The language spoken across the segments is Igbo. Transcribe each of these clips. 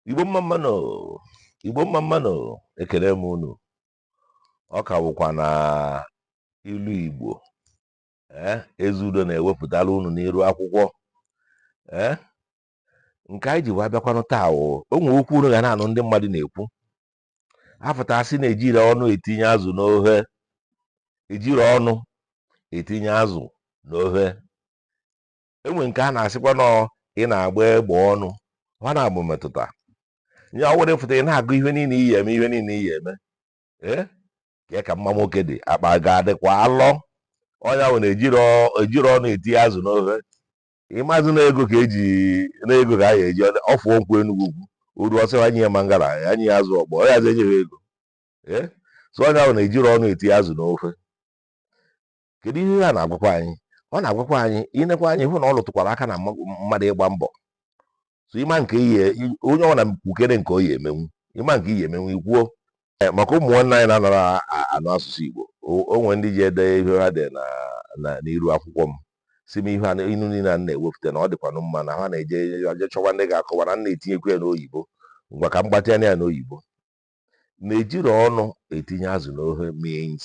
igbo mma mma nụ igbo mma mma nụ ekele m unu ọ ka bụkwa na ilu igbo ee ezeudo na-ewepụtara unu n'iru akwụkwọ ee nke anyị ji wee bịakwanụ taa o o nwe okwu unu ga na-anụ ndị mmadụ na-ekwu a fụta a sị na ejiri ọnụ etinye azụ n'ohe ejiri ọnụ etinye azụ n'ohe e nwe nke a na-asịkwa na ị na-agba egbe ọnụ ọ na-abụ metụta ya ọ were fụta ị na-agụ ihe niile ị ya-eme ihe niile ị ya-eme ee ka ka mma nwoke dị akpa ga-adịkwa alọ ọ ya bụ na ejiri ọnụ etinye azụ n'ohe ị mazị na ego ka eji na ego ka a ga-eji ọ fụ nkwọ enugwu ukwu o ru ọ sị e nye ya mangala e nye ya azụ ọkpọ ọ ya azụ enyeghị ego ee so ọ ya bụ na ejiri ọnụ etinye azụ n'ohe kedu ihe a na-agwakwa anyị ọ na-agwakwa anyị i nekwa anya ị hụ na ọ lụtụkwara aka na mmadụ ịgba mbọ so ịma nke ihe onye ọ na kwukere nke ọ ya-emenwu ị ma nke ị ya-emenwu i kwuo eh, maka ụmụ nwanne anyị na-anara anụ asụsụ Igbo o nwe ndị ji ede ihe ha dị n'iru akwụkwọ m sị m ihe inu niile a na-ewepụta na ọ dịkwanụ mma na ha na-eje aje chọwa ndị ga-akọwa na na-etinyekwu ya n'oyibo ngwa ka m gbatịa ya n'oyibo na ejiri ọnụ etinye azụ n'ohe means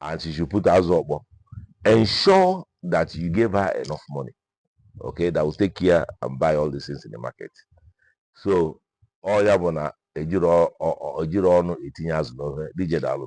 and she should put azụ ọkpọ ensure that you gave her enough money okay that will take care and buy all these things in the market so ọ ya bụ na ejiri ọnụ etinye azụ n'ohe DJ daalụ